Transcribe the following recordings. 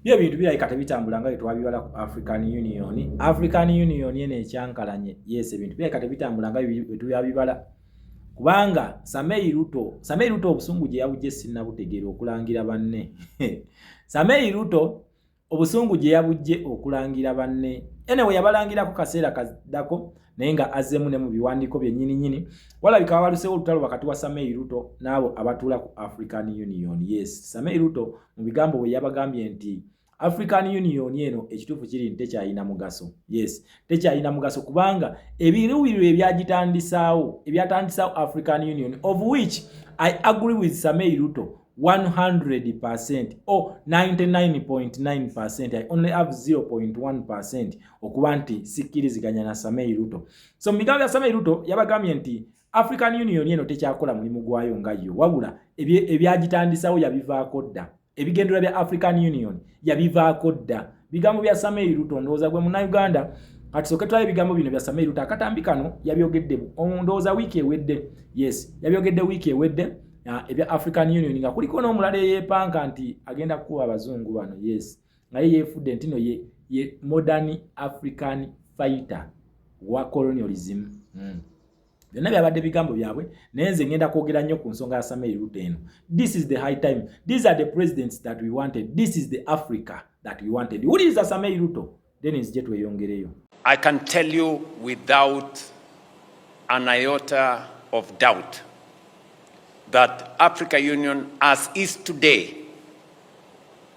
byo bintu birabika tebitambula nga byetwabibala ku african union african union eno ekyankalanye yes ebintu birabika tebitambula nga byetubyabibala kubanga samei ruto samei ruto obusungu gye yabugye sinabutegeera okulangira banne samei ruto obusungu gye yabugye okulangira banne enewe yabalangirako kaseera kaddako naye nga azemu ne mu biwandiiko byennyini nyini walabika wabalusewo olutalo wakati wa samei ruto n'abo abatuula ku african union yes samei ruto mu bigambo bwe yabagambye nti african union eno ekituufu kiri nti tekyalina mugaso yes tekyalina mugaso kubanga ebiruubirirwa ebyagitandisaawo ebyatandisaawo african union of which i agree with samei ruto 100 percent or 99.9 percent i only have 0.1 percent okuba nti sikkiriziganya na Samei Ruto. So mu bigambo bya Samei Ruto yabagambye nti African Union eno tekyakola mulimu gwayo nga yo, wabula ebyagitandisawo yabivaako dda. Ebigendera bya African Union yabivaako dda. Bigambo bya Samei Ruto ndowooza gwe munnayuganda kati soke tulabe ebigambo bino bya Samei Ruto akatambi kano yabyogedde ndowooza wiiki ewedde. Yes, yabyogedde wiiki ewedde ebya African Union nga kuliko n'omulala eyeepanka nti agenda kukuba abazungu bano. Yes. nga ye yeefudde nti no ye, ye modern african fighter wa colonialism mm. byonna byabadde bigambo byabwe naye nze ngenda kwogera nnyo ku nsonga ya samei ruto eno this is the high time these are the presidents that we wanted this is the africa that we wanted wuliriza samei ruto then nzije tweyongereyo i can tell you without an iota of doubt that africa union as is today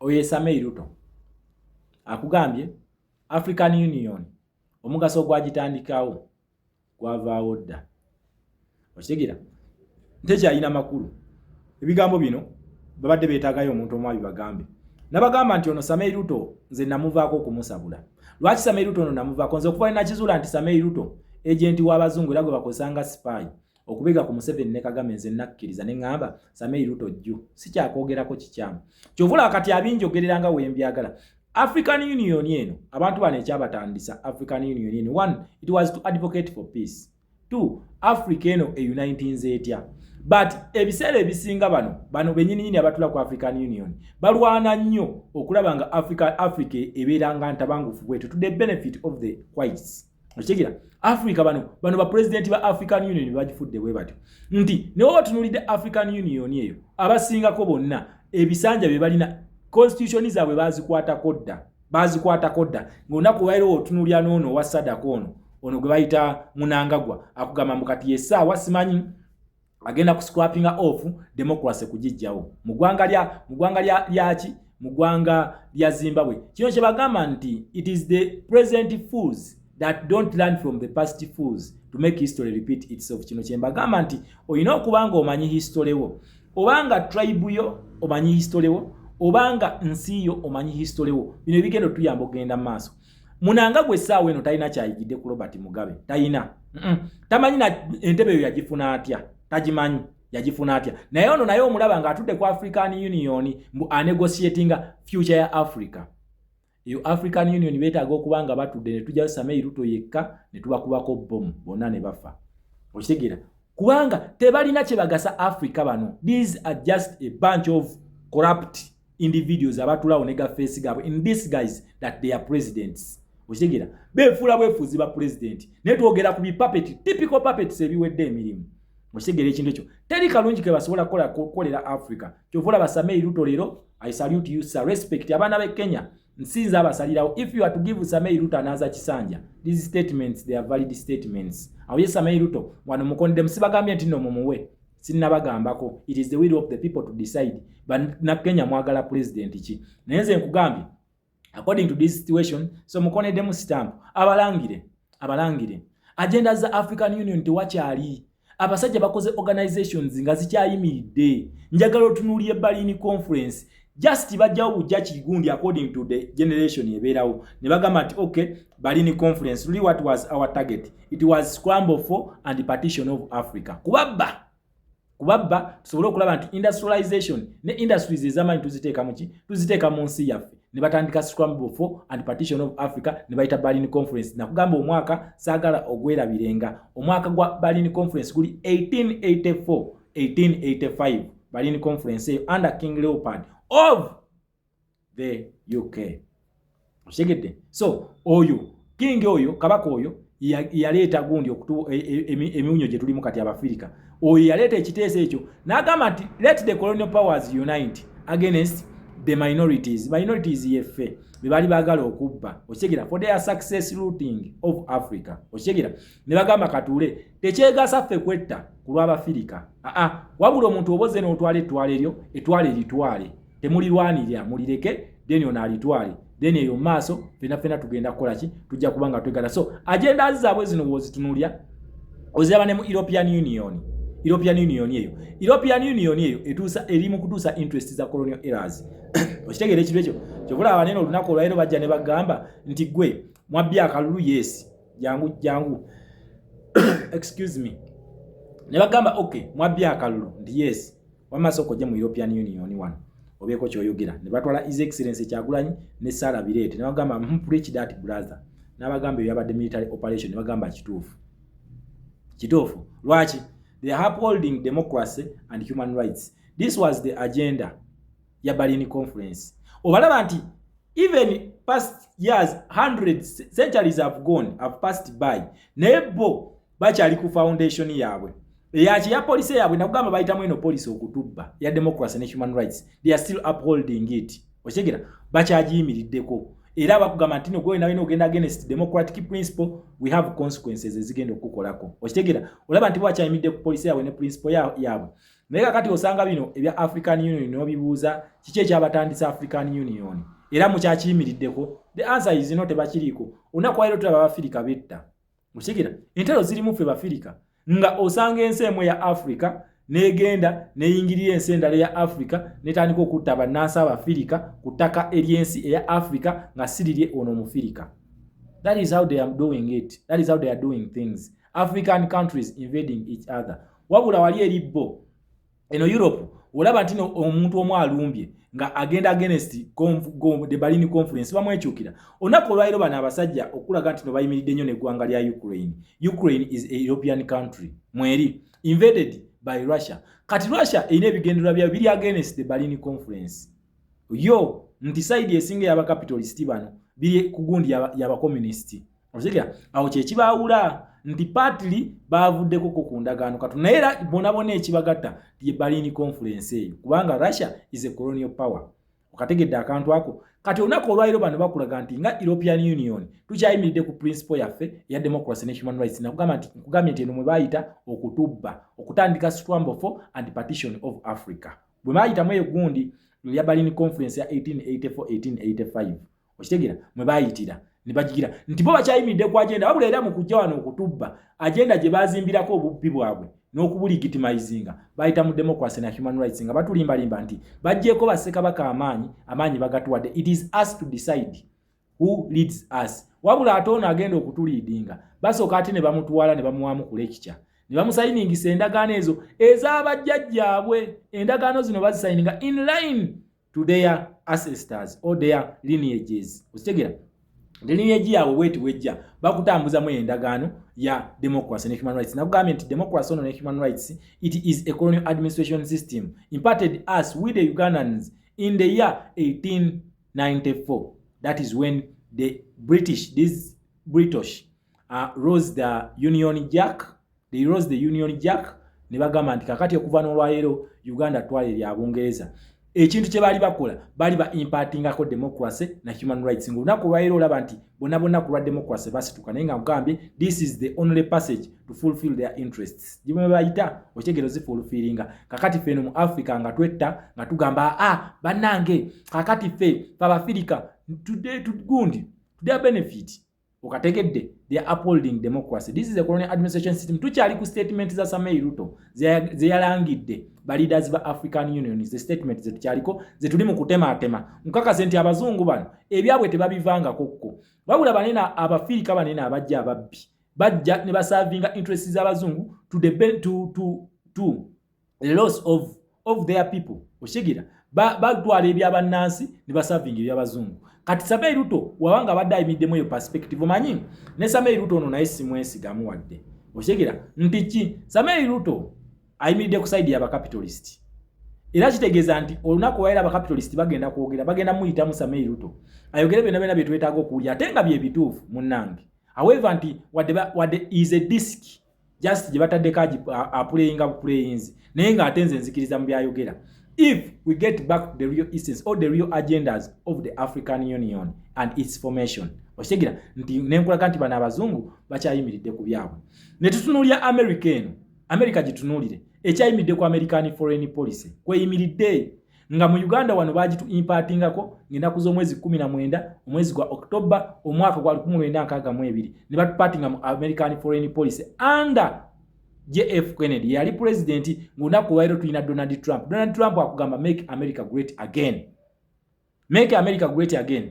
oyo esamei ruto akugambye african union omugaso ogwagitandikawo gwavaawo dda okitegera ntekyalina makulu ebigambo bino babadde beetagayo omuntu omu abibagambe nabagamba nti ono samei ruto nze namuvaako okumusabula lwaki samei ruto ono namuvaako nze okuva nakizuula nti samei ruto ejenti w'abazungu era gwe bakozesa nga sipaayi okubega ku Museveni ne Kagame nze nakkiriza ne ngamba Samei Ruto jju sikyakwogerako kikyamu kyovula kati abinjogerera nga wembyagala African Union eno abantu bano ekyabatandisa African Union eno one it was to advocate for peace two Africa eno e uniting zetya but ebiseera ebisinga bano bano benyininyini abatula ku African Union balwana nnyo okulaba nga Africa Africa ebeera nga ntabangufu bwetu to the benefit of the whites okitegera africa bano bano bapulezidenti ba african union bagifudde bwe batyo nti newe batunulidde african union eyo abasingako bonna ebisanja bye balina constitution zaabwe bazikwatako dda bazikwatako dda ngaolunaku wairo otunulya noono owa sadaka ono ono gwe bayita munangagwa akugamba mbu kati yesaawa simanyi agenda ku scrapping off democracy kujijjawo mu gwanga lya mu gwanga lya lyaki mu gwanga lya Zimbabwe kino kye bagamba nti it is the present fools that don't learn from the past fools to make history repeat itself kino kye mbagamba nti olina okuba nga omanyi history wo obanga tribe yo omanyi history wo obanga nsi yo omanyi history wo bino ebigenda otuyamba okugenda mu maaso munanga gwe saawa eno talina kyayigidde ku robert mugabe talina tamanyi na entebe eyo yagifuna atya tagimanyi yagifuna atya naye ono naye omulaba nga atudde ku african union mbu anegotiatinga future ya africa eyo african union betaaga okuba nga batudde ne tujja samei ruto yekka ne tubakubako bomu bonna ne bafa okitegeera kubanga tebalina kye bagasa africa bano these are just a bunch of corrupt individuals abatulawo ne gafeesi gaabwe in this guys that they are presidents okitegera befuula bwefuuzi ba pulezidenti naye twogera ku bipapeti typical papets ebiwedde emirimu okitegera ekintu ekyo teri kalungi ke basobola kukola kukolera africa kyova olaba samei ruto leero i salute you sir respect abaana be kenya nsinza abasalirawo if you are to give samei ruto anaaza kisanja these statements they are valid statements awo ye samei ruto wano mukondemu sibagambye nti no mumuwe sinnabagambako it is the will of the people to decide banakenya mwagala pulezidenti ki naye nze nkugambye according to this situation so mukoneddemu sitampu abalangire abalangire agenda za african union tewakyali abasajja bakoze organizations nga zikyayimiridde njagala otunuulira ebalini conference just bajjawo bujja kigundi according to the generation ebeerawo ne bagamba nti okay bali ni conference really what was our target it was scramble for and partition of africa kubabba kubabba tusobole okulaba nti industrialization ne industries ezamaanyi tuziteeka muki tuziteeka mu nsi yaffe ne batandika scramble for and partition of africa ne bayita berlin conference nakugamba omwaka saagala ogwerabirenga omwaka gwa berlin conference guli 1884 1885 Berlin Conference eyo under King Leopold of the UK. Oshegedde. So oyo king oyo kabaka oyo yaleeta gundi okutu e, e, e, emiwunyo gye tulimu kati Abafirika. Oyo yaleeta ekiteeso ekyo n'agamba nti let the colonial powers unite against the minorities minorities yeffe be baali baagala okubba okitegera for their success looting of africa okitegera ne bagamba katuule tekyegasa ffe kwetta ku lw'abafirika aa wabula omuntu oboze n'otwala ettwala eryo ettwala eritwale temulirwanirira mulireke then ono alitwale then eyo maaso fena fena tugenda kukola ki tujja kuba nga twegala so agenda zaabwe zino wozitunulya oziraba ne mu european union european union eyo european union eyo etuusa eri mu kutuusa interest za colonial errors okitegeera ekintu ekyo kyobulaba banene olunaku olwaliro bajja ne bagamba nti gwe mwabbya akalulu yeesi jangu jangu excuse me ne bagamba okay mwabbi akalulu ndi yes wama soko je mu European Union one obeko kyoyogera ne batwala his excellence kyagulanyi ne sala birete ne bagamba hmm, preach that brother na bagamba yabadde military operation ne bagamba kituufu kituufu lwaki they are upholding democracy and human rights this was the agenda ya Berlin Conference obalaba nti even past years hundreds centuries have gone have passed by naye bo bakyali ku foundation yaabwe eyaki ya police yaabwe nakugamba bayitamu eno police okutubba ya democracy ne human rights they are still upholding it okitegera bakyagiyimiriddeko era bakugamba nti nogwe nawe nogenda against democratic principle we have consequences ezigenda okukukolako okitegera olaba nti bwakyayimiridde ku police yaabwe ne principle yaabwe naye kakati osanga bino ebya african union nobibuuza kiki ekyabatandisa african union era mukyakiyimiriddeko the answer is no tebakiriiko olunaku wairo tulaba abafirika betta okigira entalo zirimu ffe bafirika nga osanga ensi emu eya africa negenda neyingirira ensi endala eya africa netandika okutta bannansi abafirika ku ttaka ery'ensi eya africa nga sirirye ono omufirika that is how they are doing it that is how they are doing things african countries invading each other wabula wali eri bo eno europe olaba nti omuntu omu alumbye nga agenda against the balini conference bamwekyukira olunaku olwaliro bano abasajja okulaga nti no bayimiridde nnyo neggwanga lya ukraine ukraine is a european country mweri invaded by russia kati russia erina ebigendererwa byayo biri against the balini conference yo nti saidi esinga yabakapitalisiti bano biri ku gundi yabakomunisiti oziga awo kyekibaawula nti patli baavuddeko ko ku ndagaano katu naye era bonabona ekibagatta ye balini conference eyo kubanga russia is a colonial power okategedde akantu ako kati olunaku olwaliro bano bakulaga nti nga european union tukyayimiridde ku principle yaffe eya democracy ne human rights nakugamba nti nkugambye nti eno mwe bayita okutubba okutandika scramble for and partition of africa bwe bayitamu eyo gundi lya balini conference ya 1884 1885 okitegeera mwe baayitira ne bagigira nti bo bakyayimiridde ku agenda wabula era mu kujja wano okutubba agenda gye baazimbirako obubbi bwabwe n'okubuligitimayizinga bayita mu democracy na human rights nga batulimbalimba nti bajjeeko bassekabaka amaanyi amaanyi bagatuwadde it is us to decide who leads us wabula ate ono agenda okutuliidinga basooka ate ne bamutwala ne bamuwaamu ku lekikya ne bamusayiningisa endagaano ezo ez'abajjajjaabwe endagaano zino bazisayininga in line to their ancestors or their lineages okitegera the lineage yaabwe bweti bwejja bakutambuzamu eyo endagaano ya democracy ne human rights nakugambye nti democracy ono ne human rights it is a colonial administration system imparted us with the ugandans in the year 1894 that is when the british this british uh, rose the union jack they rose the union jack ne bagamba nti kakati okuva n'olwaleero uganda twala erya bungereza ekintu kye baali bakola baali ba impatingako democracy na human rights nga olunaku olwaleero olaba nti bona bonna ku lwa democracy basituka naye nga nkugambye this is the only passage to fulfill their interests gibwe bayita okyegero zifulfiringa kakati ffe eno mu africa nga twetta nga tugamba aa ah, bannange kakati ffe fabafirika today to gundi to their benefit okategedde they are upholding democracy this is a colonial administration system tukyali ku statement za samei ruto zeyalangidde ba leaders ba african union ze statement zetukyaliko zetuli mu kutematema nkakase nti abazungu bano ebyabwe tebabivangako kko wabula banene abafirika banene abajja ababbi bajja ne basavinga interest z'abazungu to, to, to, to loss of of their people oshigira bagwala ebya banansi ne baserving ebya bazungu kati sabe ruto wabanga abadde ayimiddemu eyo perspective omanyi ne sabe ruto ono naye simwesigamu wadde oshigira nti ki sabe ruto ayimiridde ku side ya bakapitalist era kitegeeza nti olunaku waera bakapitalist bagenda kwogera bagenda muyitamu sabe ruto ayogere byona byona byetwetaaga okuwulira ate nga byebituufu munange however nti wadde is a disk just gye bataddeko apuleyinga bupuleyinzi naye ng'ate nze nzikiriza mu byayogera if we get back to the real essence or the real agendas of the african union and its formation okitegera nti nenkulaga nti bano abazungu bakyayimiridde ku byabwe ne tutunuulira america eno america gitunuulire ekyayimiridde ku american foreign policy kweyimiridde nga mu uganda wano bagitu impatingako ngenaku z'omwezi 19 omwezi gwa october omwaka gwa 1962 ne batupatinga mu american foreign policy under jf kennedy yali pulezidenti ngaolunaku lwairo tulina donald trump donald trump akugamba make america great again make america great again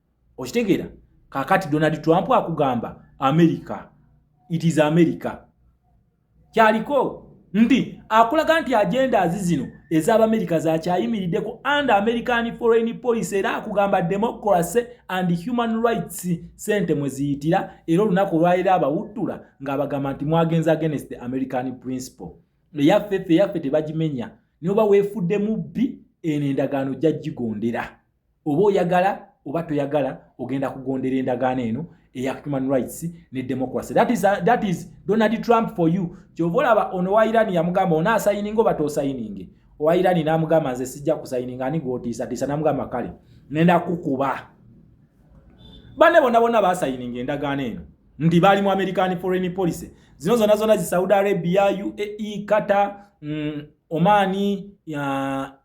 okitegeera kakati donald trump akugamba america it is america kyaliko nti akulaga nti agenda azi zino ez'abamerika zakyayimiriddeko and american foreign policy era akugamba democracy and human rights sente mwe ziyitira era olunaku olwaliro abawuttula ng'abagamba nti mwagenza against the american principle eyaffe ffe eyaffe tebagimenya noba weefudde mubbi eno endagaano jja gigondera oba oyagala oba toyagala ogenda kugondera endagaano eno eya human rights ne democracy that is, uh, that is donald trump for you kyova olaba ono wa iran yamugamba onaasayininga oba tosayininge owa iran namugamba nze sijja kusayininga ani gwotiisatiisa namugamba kale nenda kukuba banne bona bona basayininga endagaano eno nti baali mu american foreign policy zino zona zona zi saudi arabia uae qatar mm, omani uh,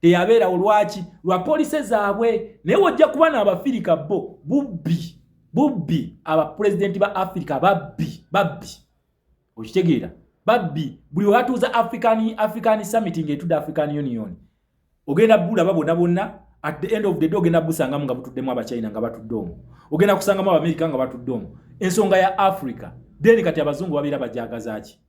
teyabeerawo lwaki lwa police zaabwe naye wojja kuba naabafirika bo bubbi bubbi abapulezidenti ba afirika babbi babbi okitegeera babbi buli webatuuza african african summit ngaetudde african union ogenda bulaba bonna bonna at the end of the day ogenda busangamu nga butuddemu abachina nga batudde omu ogenda kusangamu abamerika nga batudde omu ensonga ya africa then kati abazungu babeera bajagazaki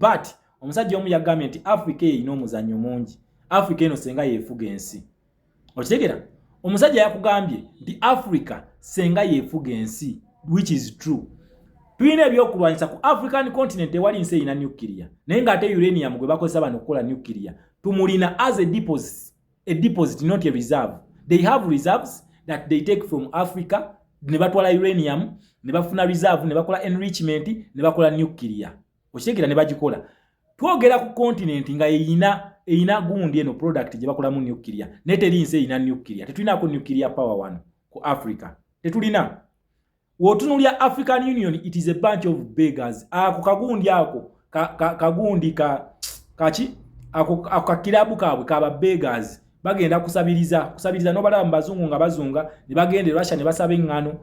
but omusajja omu yagambye nti africa eyo erina omuzannyo mungi africa eno senga yefuga ensi okitegera omusajja yakugambye nti africa senga yefuga ensi which is true tulina ebyokulwanyisa ku african continent ewali nsi erina nuclear naye ngaate uranium gwe bakozesa bano okukola nuclear tumulina as a deposit a deposit not a reserve they have reserves that they take from africa ne batwala uranium ne bafuna reserve ne bakola enrichment ne bakola nuclear okitegeera ne bagikola twogera ku continent nga eyina eyina gundi eno product gye bakolamu nuclear naye teri nsi eyina nuclear tetulinaako nuclear power wano ku africa tetulina Wotunulya African Union it is a bunch of beggars. Ako kagundi ako ka, ka, kagundi ka kachi ako ka kilabu kabwe kaba beggars. Bagenda kusabiriza kusabiriza no balaba mbazungu nga bazunga ne bagende Russia ne basabe ngano.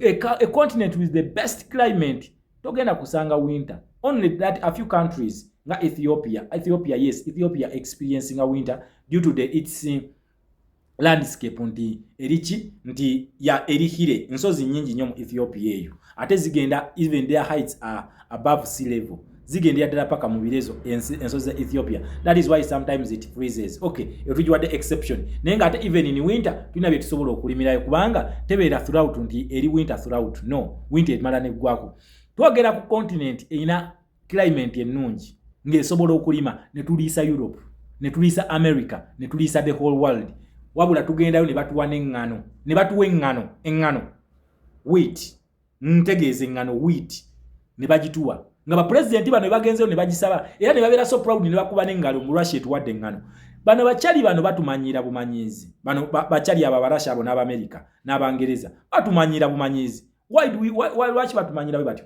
A, a, a continent with the best climate togenda kusanga winter. Only that a few countries nga Ethiopia. Ethiopia yes, Ethiopia experiencing a winter due to the its landscape nti eriki nti ya erihire nsozi nyingi nyo mu Ethiopia eyo ate zigenda even their heights are above sea level zigenda yadala paka mu birezo ensozi za Ethiopia that is why sometimes it freezes okay etujiwa the exception naye nga ate even in winter tulina bye tusobola okulimira kubanga tebeera throughout nti eri winter throughout no winter emala ne gwako twogera ku continent ina climate ennungi ng'esobola okulima ne tuliisa europe ne tuliisa america ne tuliisa the whole world wabula tugendayo ne batuwa n'eŋŋano ne batuwa eŋŋano eŋŋano wit ntegeeza eŋŋano wit ne bagituwa nga bapulezidenti bano bebagenzeyo ne bagisaba era ne babeera so proud ne bakuba n'eŋŋalo mu russia etuwadde eŋŋano bano bacali bano batumanyiira bumanyiizi bano bacali abo abarasha abo n'abamerika n'abangereza batumanyiira bumanyiizi lwaki batumanyiira bwe batyo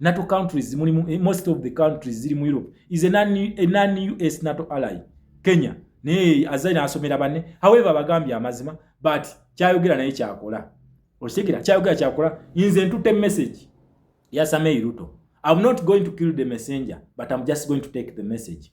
nato countries mulimu eh, most of the countries ziri mu europe is a non us nato ally kenya naye azali nasomera banne however bagambye amazima but kyayogera naye kyakola okitegera kyayogera kyakola nze ntute message yasamei ruto im not going to kill the messenger but im just going to take the message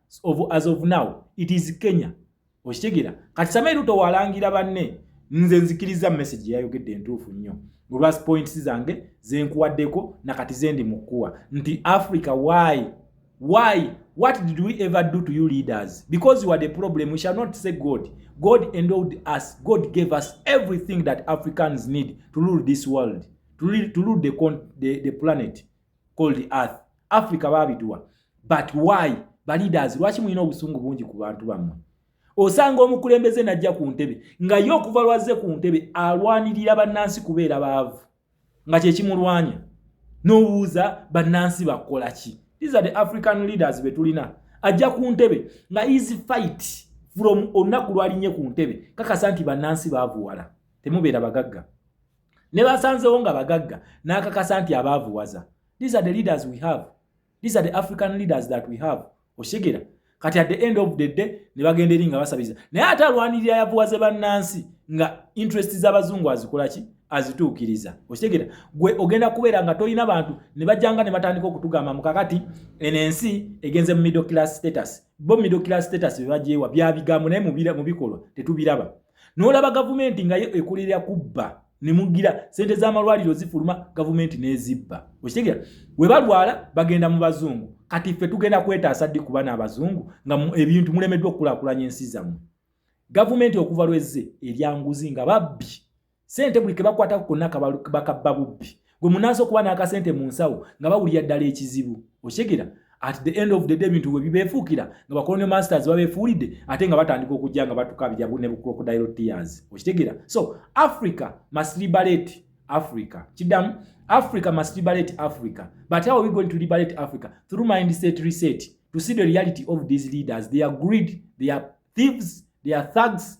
of, as of now it is kenya okitegera kati same ruto walangira banne nze nzikiriza message yayogedde entuufu nnyo olwa points zange zenkuwaddeko nakati zendi mukuwa nti africa why why what did we ever do to you leaders because you are the problem we shall not say god god endowed us god gave us everything that africans need to rule this world to rule, to rule the, the, the planet called earth africa babiduwa but why ba leaders lwaki mulina obusungu bungi ku bantu bammwe osanga omukulembeze najja ku ntebe nga ye okuva lwazze ku ntebe alwanirira bannansi kubeera baavu nga kyekimulwanya n'obuuza bannansi bakola ki these are the african leaders be tulina ajja ku ntebe nga easy fight from olunaku lwalinye ku ntebe kakasa nti bannansi baavuwala temubeera bagagga ne basanzewo nga bagagga n'akakasa nti abaavuwaza these are the leaders we have these are the african leaders that we have oshegera kati at the end of the day ne bagenda eri nga basabiza naye ate alwanirira yavuwaze bannansi nga interest z'abazungu azikola ki azituukiriza okitegera gwe ogenda kubeera nga tolina bantu ne bajjanga ne batandika okutugamba mukakati eno ensi egenze mu middle class status bo middle class status bebagyewa byabigambo naye mu bikolwa tetubiraba n'olaba gavumenti nga yo ekolera kubba ne mugira sente z'amalwaliro zifuluma gavumenti n'ezibba okitegera we balwala bagenda mu bazungu kati ffe tugenda kwetaasa ddi kuba n'abazungu nga ebintu mulemeddwa okukulakulanya ensi zammwe gavumenti okuva lwezze eryanguzi nga babbi sente buli kebakwatako konna bakabba bubbi gwe munaasa okuba n'akasente mu nsawo nga bawulira ddala ekizibu okyegera at the end of the day ebintu bwe bibeefuukira nga bakolonio masters babeefuulidde ate nga batandika okujja nga batukabira ne bucrocodile tears okitegera so africa must liberate africa kiddamu africa must liberate africa but how are we going to liberate africa through mind set reset to see the reality of these leaders they are greed they are thieves they are thugs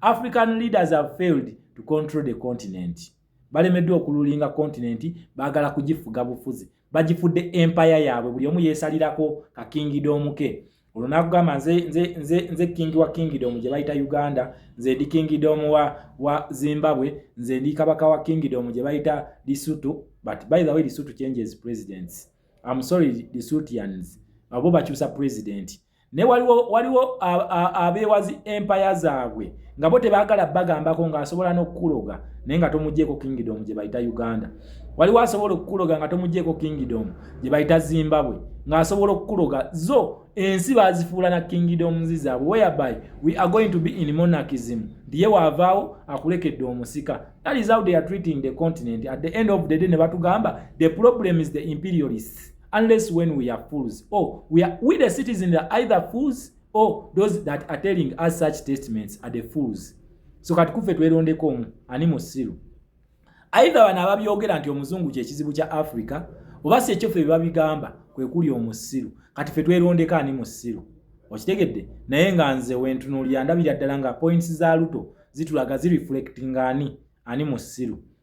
african leaders have failed to control the continent balemeddwa okululinga continent baagala kugifuga bufuzi bagifudde empaya yaabwe buli omu yeesalirako kakingidoomuke olwo nakugamba nze, nze, nze, nze kingi wa kingidom gye bayita uganda nze ndi kingidom wa, wa zimbabwe nze ndi kabaka wa kingidom gye bayita lisutu but by the way lisutu changes presidents am sorry lisutians abo bakyusa presidenti naye waliwo waliwo abeewazi empaya zaabwe nga bo tebaagala bagambako ng'asobola n'okukuloga naye nga tomugyeko kingdom gye bayita uganda waliwo asobola okukuloga nga tomugyeko kingdom gye bayita zimbabwe ng'asobola okukuloga zo ensi bazifuula na kingdoms zaabwe whereby we are going to be in monarchism ndiye waavaawo akulekedde omusika that is how they are treating the continent at the end of the day ne batugamba the problem is the imperialists unless when we are fools or oh, we are we the citizens are either fools or oh, those that are telling us such statements are the fools so kati kufe twelondeko omu ani musiru either bana ababyogera nti omuzungu kye kizibu kya africa oba si ekyo fe babigamba kwe kuli omusiru kati fe twelondeko ani musiru okitegedde naye nga nze wentunuulira ndabira ddala nga points za luto zitulaga zireflecting ani ani musiru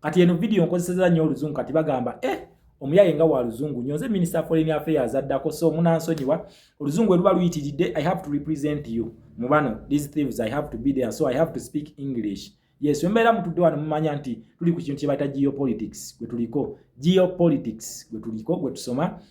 kati eno video nkozeseza nnyo oluzungu kati bagamba eh omuyaye nga wa luzungu nyo nze minister foreign affairs addako so munansonyiwa oluzungu eruba luyitiridde i have to represent you mubano these thieves i have to be there so i have to speak english yes wembeera mutudde wano mumanya nti tuli ku kintu kyebayita geopolitics gwe tuliko geopolitics gwe tuliko gwe tusoma